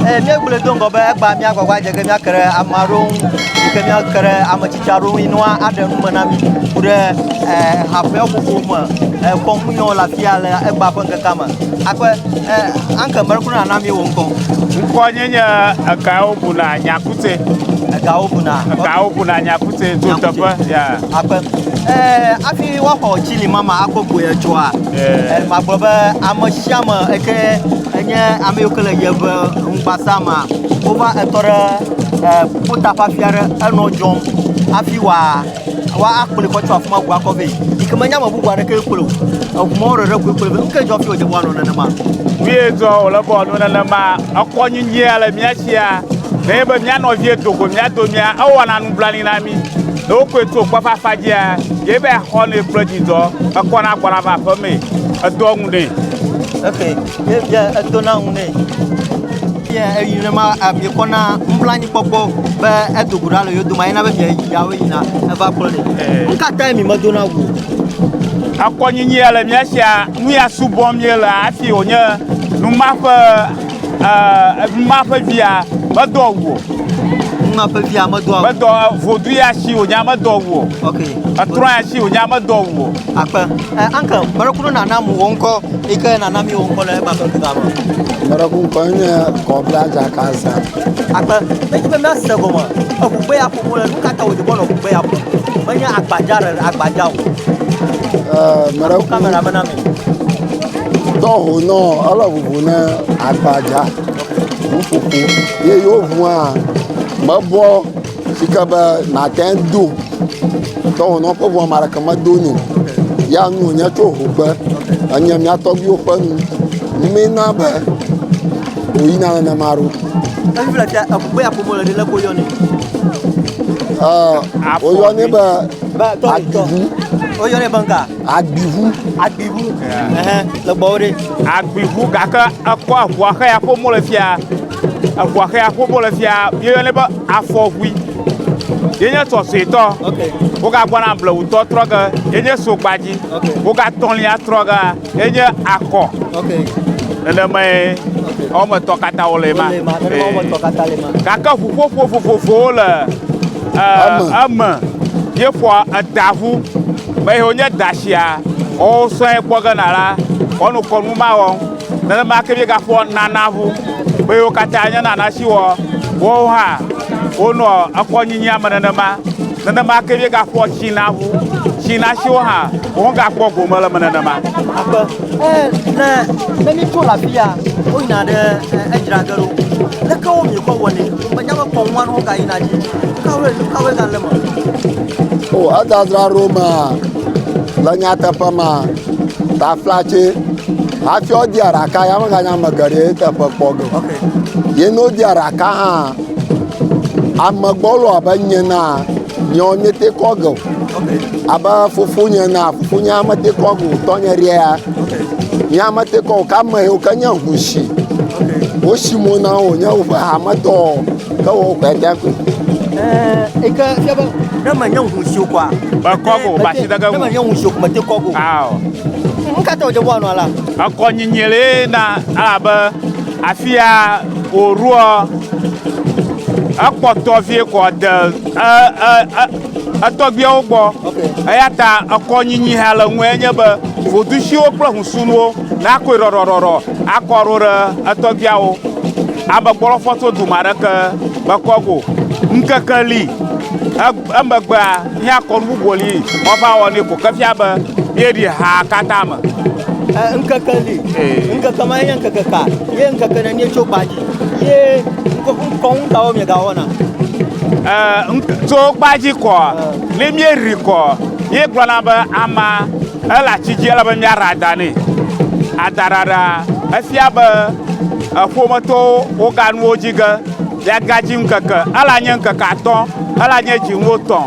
Eh, míegblɔe do ŋgɔ be egba míagbagba dze ge míake ɖe ame aɖewo ŋu yi ke míake ɖe ame tsitsi aɖewo ŋu yi ne woaɖe nu me na mí ku ɖe eh, haƒeƒoƒo me eh, kɔmunyɔ le afia le egba ƒe ŋkekea me akpe anke mele kuna nana mí wò ŋkɔ ŋkɔ nye nye egawo buna nyakute egawo buna egawo buna nyakute to teƒe akpe hafi woaxɔ tsili mama akpɔ gboya tsoa Magblɔ be ame sia ame eke enye ame yiwo ke le yeʋe ŋugbasa ma, wova etɔ ɖe ƒuta ƒe afi aɖe enɔ dzɔm hafi wòa woakplɔe kɔ tso afi ma ŋu akɔ vɛ yi ke menye ame bubu aɖeke kplɔe o. Eŋumɔwo ɖeɖe koe kplɔe be nu kae dzɔ hafi wòdze be woanɔ nenema. Nu ye dzɔ wòle be wòanɔ nenema. Ekɔ nyinyia le mía sia nenye be mía nɔvie do go mía domea, ewɔna nublanui na mí. Ne wokɔe to kpɔ ƒe afa dzia, ye be axɔ nɛ kple dzidzɔ. Ekɔ na gbɔna va aƒe mee. Edoa ŋu nɛ. Ok, ye bia edo na ŋu nɛ. Ye eyi ne ma abi kɔ na nublanyi kpɔkpɔ be edo go ɖa le yo doma yina be bia yi ya wo yina eva kplɔ nɛ. Nu ka tae mi medo na ŋu? Akɔnyinyi ele mia sia nu ya subɔm ye le afi wonye numaƒe. Numa ƒe via medo awu o. Numa ƒe via medo awu. Medo vodu ya si wònya medo awu o. Ok. Etrɔ ya si wònya medo awu o. Akpe. Ɛ anke mɛɖeku ɖe nana mu wò ŋkɔ yi ke nana mi wò ŋkɔ le ema ƒe via me. Mɛɖeku ŋkɔ nye kɔbla dzaka za. Akpe. Ne dzi be mia se gɔme. Eŋu gbe ya ƒoƒo le nuka ta wòdze bɔ nɔ gbe ya ƒo. Menye agbadza ɖe agbadza o. Ɛ mɛɖeku. Kamera me na mi. Dɔ ho nɔ ele ʋuʋu ne agbadza ŋuƒoƒo ye yewo ʋua mebɔ si ke be nàte ŋu do. Dɔ ho nɔ ƒe ʋua ame aɖeke medo nɛ o. Ya nu wònye tso ʋu ƒe enye mía tɔgbuiwo ƒe nu mina be wòyina nenema ɖo. Evi le ta eku be aƒomɔ le ɖe le ko yɔnɛ. Aa woyɔnɛ be Ba tɔ tɔ. adudu. Woyɔnɛ be ŋka. Agbiʋu. Agbiʋu. Ɛhɛn, le gbɔwò ɖe. Agbiʋu gake ekɔ eʋua xe ya ƒomɔ le fia. Eʋua xe ya ƒomɔ le fia. Yeyɔnɛ be afɔʋui. Yenye sɔsɔetɔ. Ok. Wogagbɔna blewutɔ trɔ ge. Yenye sogbadzi. Ok. Wogatɔlia trɔ ge. Yenye akɔ. Ok. Nenemae wɔme etɔ̃ katã wole ema. Wole ema. Nenema wɔme etɔ̃ katã le ema. Gake ʋuƒoƒo vovovowo le eme. Eme. Yeƒoa edaʋu. Ame yiwo nye dasia, woawo sɔe kpɔ ge na la, woanɔ kɔnu ma wɔm. Nenema ke míegaƒoa Nana ŋu be yewo katã nye Nana si wɔ woawo hã wonɔ ekɔnyinyia me nenema. Nenema ke míegaƒoa China ŋu, China siwo hã womegakpɔ gome le eme nenema. Aƒe. Ne, ne míetso le afia, woyina ɖe edzra ge ɖo. Leke wo miekɔ wɔnɛ? O edzadzra ɖo ma le nyateƒe ma taflatse hafi wodi aɖaka ya meganya ame geɖe ye teƒe kpɔ ge o. Ye ne wodi aɖaka hã amegbɔ lɔ abe nye na Nyɔ nyete kɔ geo. Abe fofonye na fofonye amete kɔ go tɔnye ɖea. Nyɔ amete kɔ ka me yo ke nye hushi. Wo shi mo na wo nye woƒe hame tɔ ke wo kɔ ta ko. Eh, eke ke ba. Ne me nyɔ hushi o kwa. Ba kɔ go ba shi daga. Ne me nyɔ hushi o kuma te kɔ go. Aw. Nka te o je bo anwa la. Akɔ nyinyele na ala ba. Afia wòɖoɔ ekpɔtɔ vie kɔ de etɔgbiawo gbɔ. Eya ta ekɔ nyinyi hã le ŋu enye be vodusiwo kple husunuwo nakɔe ɖɔɖɔɖɔɖɔ akɔ ɖo ɖe etɔgbiawo. Amegbɔlɔfɔtso dome aɖeke mekɔ go. Ŋkeke li. Emegbea, mía kɔnu bubu li woava wɔ nɛ ko ke fia be míeɖi ha katã me. Ŋkeke li, ŋkeke ma nye ŋkeke ka? Ye ŋkeke ne míetso kpa dzi ye ŋkɔ ŋutawo miegawɔna? Tso kpa dzi kɔ, ne míeri kɔ, míegblɔna be ama ele ati dzi ele be míara da nɛ. Adaɖaɖa efia be eƒometɔwo woga nuwo dzi ge. Le gadzi ŋkeke, ela nye ŋkeke atɔ, ela nye dzi ŋwo tɔ.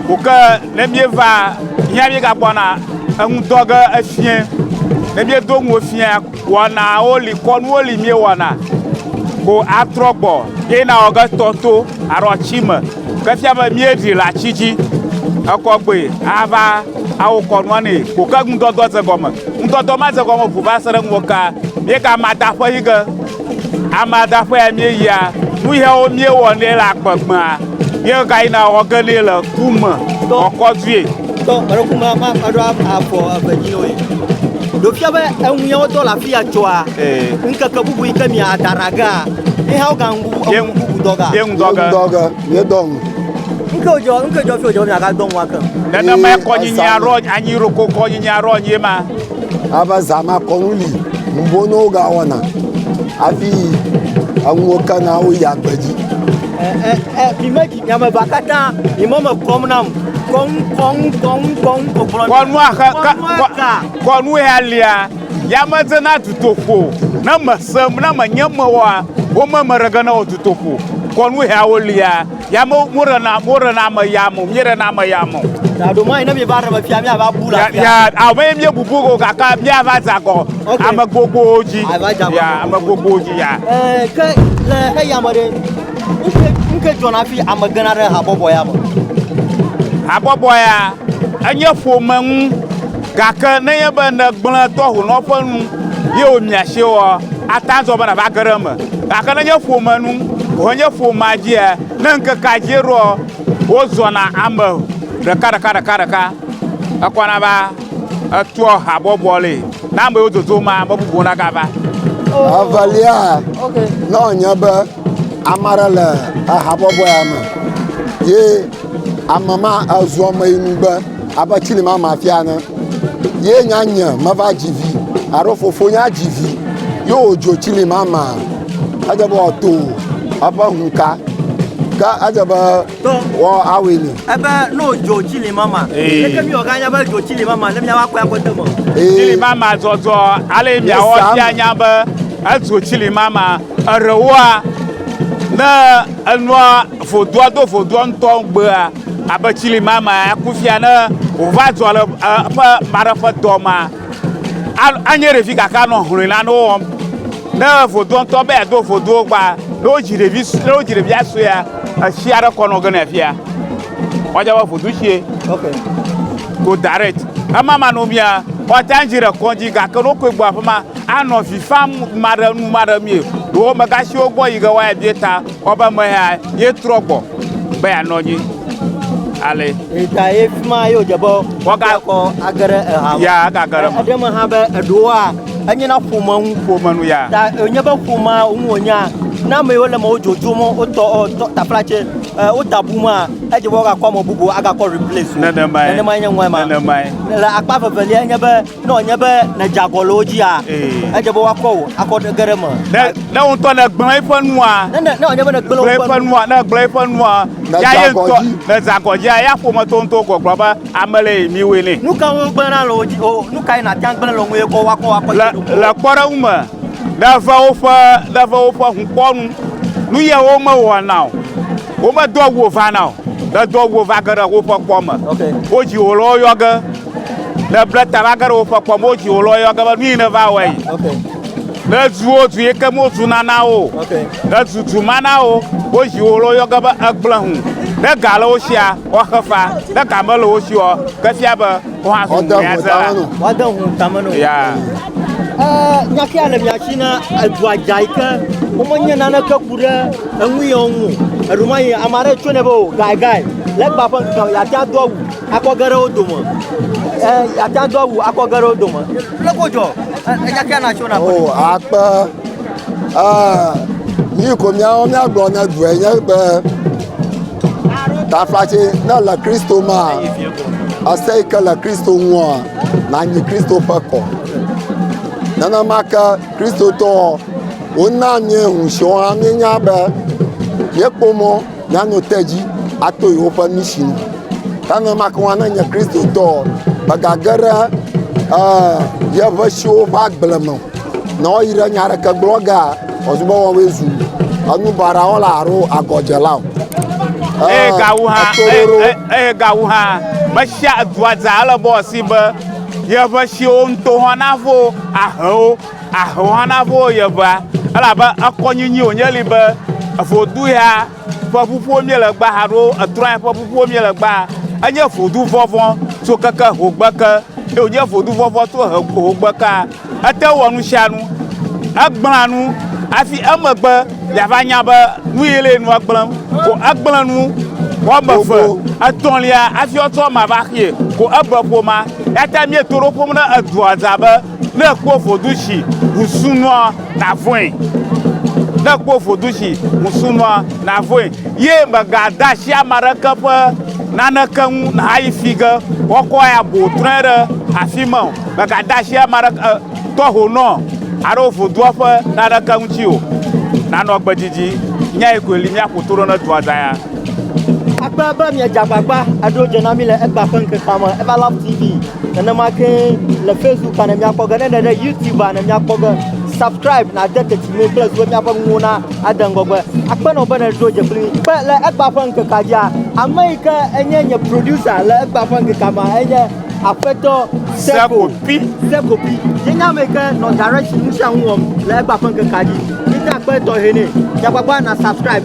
Ko ke ne mie va hia mie ga kpɔna eŋu dɔ ge efiɛ. Ne mie do ŋuo fiɛ wɔna wo li, kɔnu wo li mie wɔna. Ko atrɔ gbɔ ye na wɔ ge tɔ to alo atsi me. Ke fia be mie ɖi le atsi dzi ekɔ gbe ava awo kɔnua ne. Ko ke ŋudɔdɔ ze gɔme. Ŋudɔdɔ ma ze gɔme ʋu va se ɖe ŋuwɔ ka mie ga ma da ƒe yi ge. Amadaƒea míeyia, nu yawo míewɔ nɛ le agbegbea, míegayina wɔ ge nɛ le ku me kɔkɔdue. Tɔ alo ku me ma aɖo afɔ eve dzi nɔ ye. Ɖo fia be eŋu yawo dɔ le afi ya tsɔa, ŋkeke bubu yi ke mia dara gea, ye hã woga ŋu ŋu bubu dɔ ga. Ye ŋu dɔ ge. Dɔ ge, ye dɔ ŋu. Ŋke wòdzɔ, ŋke dzɔ fi wòdzɔ be miaga dɔ ŋu ake. Nenema kɔnyinyi aɖo anyi ɖoko kɔnyinyi aɖo anyi ma. Alebe zã ma kɔnu li ŋuvono wogawɔna hafi enuwo kena woyia agbe dzi. Vimedzi nyameba katã yi mɔ me kɔm nam. Kɔnu kɔnu kɔnu kɔnu kɔkplɔ. Kɔnu axa ka kɔnu ya lia yamedzena tutoƒo ne mesem ne menye mewɔa wo me meɖege ne wɔ tutoƒo kɔnu ya wo lia. Ya mo mo re na mo re na me ya mo mi re na me ya mo. Ya do mai ne mi va re me fia mi ava bu la. Ya a me mi bu bu ko kaka mi ava za ko. Ame gogo ji. Ya ame gogo ji ya. Eh ke le he ya mo de. Nke nke jona fi ame gana re ha bobo ya mo. Ha bobo ya. Enye fo me nu. Gake ne ye be ne gblẽ tɔhu nɔ ƒe nu ye wo miashe wɔ atazɔ be na va gere me. Gake ne nye ƒome nu alo nye ƒomea dzia, ne ŋkekea dzi ɖoa, wozɔna ame ɖekaɖeka ɖekaɖeka ekɔna va etoa habɔbɔ li ne ame yiwo dodo ma be bubu nagava. Evelia, ne wònye be ame aɖe le ehabɔbɔa me ye ame ma ezu ameyinugbe. Abe tsinimama fia ene. Ye nya nye meva dzi vi alo fofo nya dzi vi ye wòdzo tsinimama. Edze be wòato eƒe hunka. Ke edze be wòawɔe nɛ. Ebe ne wòdzo tsinimama. Leke mi wògã nya be edzo tsinimama ne miava kpɔe akpɔ ete me? Tsinimama dzɔdzɔ ale miawɔ fia nya be edzo tsinimama. Eɖewoa, ne enua vodoa do vodoa ŋutɔ gbea, abe tsili ma ma aku fia ne wòva dzɔ le eƒe maɖe ƒe dɔ ma anye ɖevi gake anɔ hlɔ̃e la ne wowɔm ne vodoɔ ŋutɔ be yeado vodoɔ gba ne wodzi ɖevi ne wodzi ɖevia suea etsi aɖe kɔ nɔ ge ne fia wɔdze be vodu tsie go direct ema ma no mia wɔta dzi ɖe kɔdzi gake ne wokɔe gbɔ aƒe ma anɔ vi fam ma ɖe nu ma ɖe mie ɖewo megasiwo gbɔ yi ge wɔya bie ta Kpɔ be mea ye trɔ gbɔ be ya nɔ nyi. Ale. Eta ye fima ye odze be. Waga kɔ agere eha. Ya aga gere. Ede me ha be edoa enye na ƒome ŋu. Ƒome nu ya. Ta enye be ƒoma ŋu onya. Na me yo le me ojojo mo otɔ otɔ tapla che e ota bu ma edze be waga kɔ mo bubu aga kɔ replace. Nene mai. Nene mai nye ŋwa ma. Nene mai. Le akpa vevelia enye be. ne wònye be nèdze agɔ le wo dzia edze be woakɔ wò akɔ ɖe ge ɖe me ne ne wo ŋutɔ ne gblẽ eƒe nua ne ne ne wònye be nègblẽ gblẽ eƒe woƒe nu nua ne gblẽ eƒe nua Nèdze ya ye agɔ ŋutɔ dzi. ne dze agɔ dzia ya ƒometɔ ŋutɔ gɔgblɔ be ame le yi miwoe nɛ nu ka ŋu gblẽna le wo dzi o nu kae nàte ŋu agblẽ le wo ŋu ye kɔ woakɔ wò akɔ le ɖe ɖokui le ŋu? kpɔɖeŋu me ne ve woƒe ne ve woƒe ŋukpɔnu nu ye womewɔna o womedo awu o vana o ne do awu o va ge ɖe woƒe kpɔ me Okay. wodzi wò le woyɔ ge Ne ble ta va ge ɖe woƒe kpɔ mo dzi wòlɔ yɔ ge be nu yi ne va wɔe. Ne zu wo zu yi ke mo zu nana wo. Ne zu zu mana wo wo dzi wòlɔ yɔ ge be egblẽ hu. Ne ga le wo sia woaxe fa. Ne ga me le wo si o ke fia be wohã zu ŋu ya zela. Woade ŋu tame no. Ya. Nyafia le mia si na edua dza yi ke womenye naneke ku ɖe enu yɔ ŋu. Eɖo ma yi ame aɖe tso ne be o gai gai legba ƒe ŋkeke ya tia do awu. Akɔ ge ɖe wo dome. Ɛ ate ŋu ado awu akɔ ge ɖe wo dome. Kple ko dzɔ. Eya kia na tso na. O akpe. Aa yi ko míawo míagblɔ ne due nye be tafatse ne le Kristo ma ese yi ke le Kristo ŋua nanyi Kristo ƒe kɔ. Nenema ke Kristotɔ wona míehu siwo hã míenya be míekpɔ mɔ Nyanu te dzi ato yewoƒe misi nu. Ke ne make ŋu ne nye Kristotɔ o, megage ɖe eh, yeƒe siwo ƒe agble me o. Ne woyi ɖe nya aɖeke gblɔ gea, ɔzubɔ wɔwɔe zu enu baɖa wɔla alo agɔdzela o. Eye Eh, gawu hã, eto eye- ɖoɖo. eye- eye gawu hã, mesia edua dza ele bɔ si be yeƒe siwo ŋutɔ hã navo ahe wo. Ahɔha na vo ye ʋea, elabe ekɔ nyinyi wònye li be vodu ya ƒe ƒuƒuwo mie le gbaa alo etrɔ ya ƒe ƒuƒuwo mie le gbaa. Enye vodu vɔvɔ so keke hogbe ke, eye wònye vodu vɔvɔ to he hogbe kea. Ete wɔ nu sia nu. Egblẽa nu hafi emegbe yeava nya be nu ye le nua gblẽm. Ko egblẽ nu wɔ ame eve, etɔ̃lia hafi woatsɔ ema va xee. Ko ebe ƒoma. Eyata mieto ɖo ƒom ɖe edua dza be. Ne ekpɔ vodu si ŋusu nɔa navɔe. Ne ekpɔ vodu si ŋusu nɔa navɔe. Ye mègade asi ame aɖeke ƒe naneke ŋu nàyi fi ge woakɔ abo trɔe ɖe afi ma o. Mègade asi ame aɖeke, e, tɔhonɔ alo vodua ƒe naneke ŋuti o. Nanɔ gbe didi. Nyae koe li míaƒo to ɖo ne dua da ya. Akpe be miedze agbagba aɖo dze na mí le egbea ƒe ŋkekea me. Everlove TV. nenema ke le facebook ne miakpɔ ge ne ɖe ɖe youtube ne miakpɔ ge subscribe na de teti me kple zuwe miaƒe nuwo na ade ŋgɔgbe akpenɔ be ne ɖo dze kpli kpe le egba ƒe ŋkekea dzia ame yi ke enye nye producer le egba ƒe ŋkekea ma enye aƒetɔ sekopi sekopi yenye ame yi ke nɔ direction nu sia nu wɔm le egba ƒe ŋkekea dzi yinye akpe tɔxɛ nɛ miagbagba na subscribe